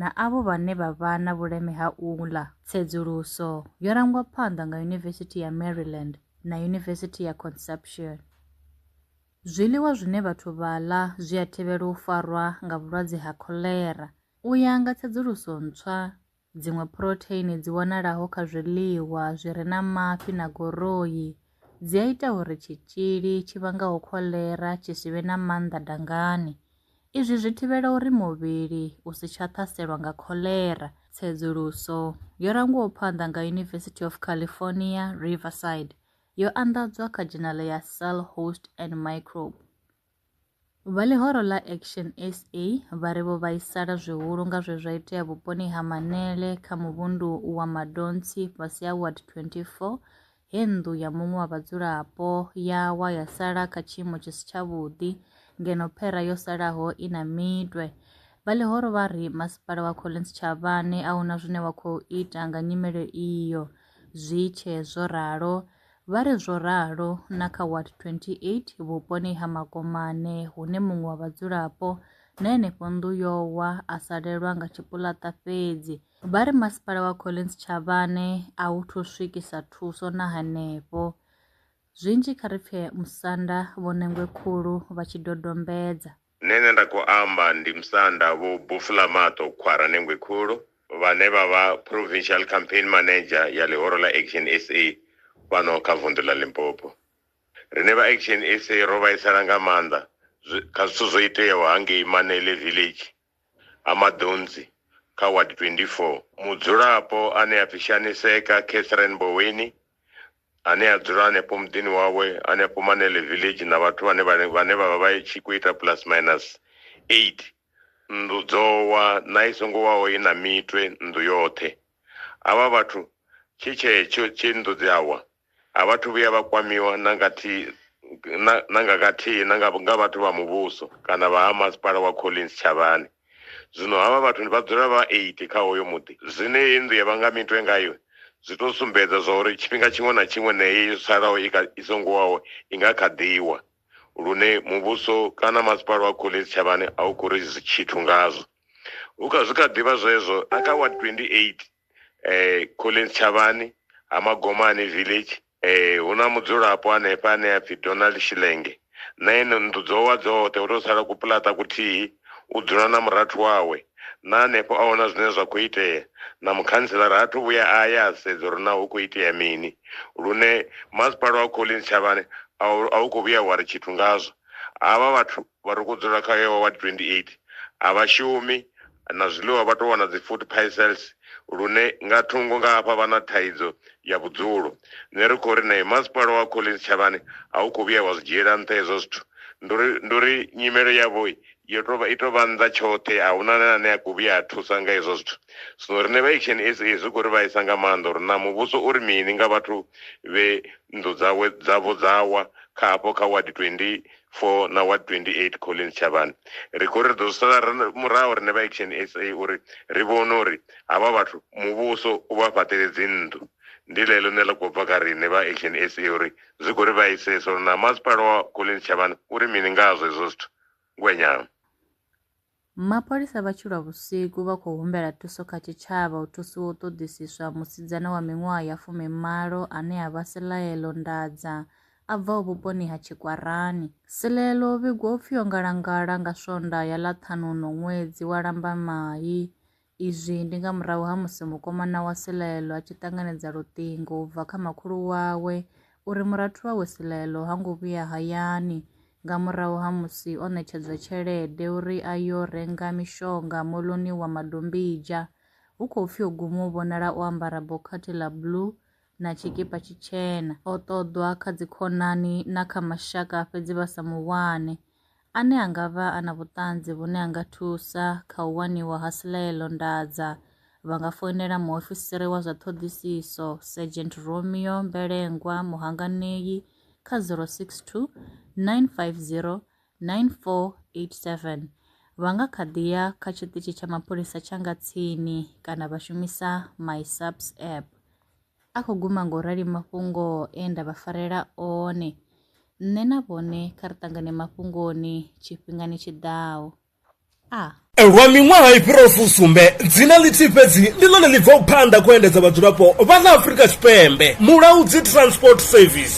na avho vhane vha vha na vhuleme ha u ḽa. Tsedzuluso yo rangwa phanḓa nga Yunivesithi ya Maryland na Yunivesithi ya Conception. Zwiḽiwa zwine vhathu vha ḽa zwi a thivhela u farwa nga vhulwadze ha kholera. U ya nga tsedzuluso ntswa, dziṅwe phurotheini dzi wanalaho kha zwiḽiwa zwi re na mafhi na goroi dzi a ita uri tshitzhili tshi vhangaho kholera tshi si vhe na maanḓa dangani Izwi zwi thivhela uri muvhili u si tsha ṱhaselwa nga kholera. Tsedzuluso yo rangiwaho phanḓa nga University of California, Riverside yo anḓadzwa kha dzhenala ya Cell Host and Microbe. Vha ḽihoro ḽa Action SA vha ri vho vhaisala zwihulu nga zwe zwa itea vhuponi ha Manele kha muvhundu wa Madontsi fhasi ha Ward 24 he nnḓu ya muṅwe wa vhadzulapo ya wa ya sala kha tshiimo tshi si tshavhuḓi ngeno phera yo salaho i na mitwe. Vha ḽihoro vha ri Masipala wa Collins Chavhane a huna zwine wa khou ita nga nyimele iyo. Zwi tshe zwo ralo, vha ri zwo ralo na kha Ward 28 vhuponi ha Makomane hune muṅwe wa vhadzulapo na henefho nnḓu yo wa a salelwa nga tshipuḽaṱa fhedzi. Vha ri Masipala wa Collins Chavhane a u thu swikisa thuso na hanefho. Zwinzhi kha ri pfe musanda Vho Nengwe Khulu vha tshi dodombedza. Nṋe ane nda khou amba ndi musanda Vho Bufulamaṱo Khwara Nengwe Khulu, vhane vha vha Provincial Campaign Manager ya ḽihoro ḽa Action sa fhano kha vunḓu ḽa Limpopo. Riṋe vha Action sa ro vhaisala nga maanḓa kha zwithu zwo iteaho hangei Manele Village ha maḓunzi kha Ward 24. Mudzulapo ane a pfi Shaniseka Catherine Boweni ane a dzula hanefho muḓini wawe hanefho Manele Village na vhathu vhane vhane vhane vha vha vha tshi khou ita plus minus 8 nnḓu dzo wa na i songo waho i na mitwe nnḓu yoṱhe. Havha vhathu tshi tshetsho tshe nnḓu dzi a wa A vha athu vhuya vha kwamiwa na nga thi, na, na nga kathihi na nga, nga vhathu vha muvhuso kana vha ha Masipala wa Collins Tshavhani. Zwino havha vhathu ndi vha dzula vha 80 kha hoyo muḓi. Zwine heyi nnḓu ya vha nga mitwe ngayo zwi tou sumbedza zwa uri tshifhinga tshiṅwe na tshiṅwe na heyi yo salaho i, kha, i songo waho i nga kha ḓi wa, lune muvhuso kana Masipala wa Collins Tshavhani a u khou ri tshithu ngazwo. Hu kha, zwi kha ḓi vha zwezwo na kha Ward 28. eh, collins tshavhani ha magomani village eh, hu na mudzulapo hanefha ane a pfi donald shilenge na ene nnḓu dzo wa dzoṱhe hu tou sala kupulata kuthihi u dzula na murathu wawe na hanefho a hona zwine zwa khou itea na mukhantselara ha thu vhuya a ya a sedza uri na hu khou itea mini lune masipala wa collins tshavhani a u- a u khou vhuya wa ri tshithu ngazwo havha vhathu Vha ri khou dzula kha hewa ward 28 a vha shumi, na zwiḽiwa vha tou wana dzi food parcels lune nga thungo nga hafha vha na thaidzo ya vhudzulo. Nṋe ri khou ri nae masipala wa Collins Tshavhani a u khou vhuya wa zwi dzhiela nṱha hezwo zwithu. Ndi uri, ndi uri nyimelo yavho yo tou vha, i tou vha nnḓa tshoṱhe, a hu na ane a khou vhuya a thusa nga hezwo zwithu. Zwino riṋe vha Action SA zwi khou ri vhaisa nga maanḓa uri naa muvhuso u ri mini nga vhathu vhe nnḓu dzawe, dzavho dza wa kha hafho kha ward 28. for na wa 28 Collins Chavani ri khou ri ri ḓo sala muraho rine vha Action SA uri ri vhone uri havha vhathu muvhuso u vha fhaṱele dzinnḓu ndi ḽeḽo ṋe ḽa khou bva kha rine vha Action SA uri zwi khou ri vhaisesa uri na masipala wa Collins Chavani uri mini ngazwo hezwo zwithu ngwenyana Mapholisa vha tshi lwa vhusiku vha khou humbela thuso kha tshitshavha u thusiwa u ṱoḓisiswa musidzana wa miṅwaha ya fumi malo ane a vha Silaelo Ndadza a bvaho vhuponi ha Tshikwarani. Silaelo o vhigwa u pfi o ngalangala nga Swondaha ya ḽa ṱhanu uno ṅwedzi wa Lambamai Izwi ndi nga murahu ha musi mukomana wa Silaelo a tshi ṱanganedza luṱingo u bva kha makhulu wawe uri murathu wawe Silaelo ha ngo vhuya hayani nga murahu ha musi o ṋetshedzwa tshelede uri a yo renga mishonga moḽoni wa Madombidzha. Hu khou pfi o guma u vhonala o ambara bokhathi ḽa blue na tshikipa tshitshena. O ṱoḓwa kha dzikhonani na kha mashaka fhedzi vha sa mu wane. ane a nga vha a na vhuṱanzi vhune ha nga thusa kha u waniwa ha silaelo ndadza, vha nga foinela muofisiri wa zwa ṱhoḓisiso, Sergeant Romeo Mbelengwa Muhanganei kha 062 950 9487. Vha nga kha ḓi ya kha tshiṱitshi tsha mapholisa tsha nga tsini kana vha shumisa MySAPS app. A khou guma nga u rali mafhungo e nda vha farela one. Nṋe na vhone kha ri ṱangane mafhungoni tshifhingani tshi ḓaho. A. Lwa miṅwaha i fhiraho fusumbe, dzina ḽithihi fhedzi ndi ḽone ḽi bvaho phanḓa kha u endedza vhadzulapo vha ḽa Afrika Tshipembe, Mulaudzi Transport Service.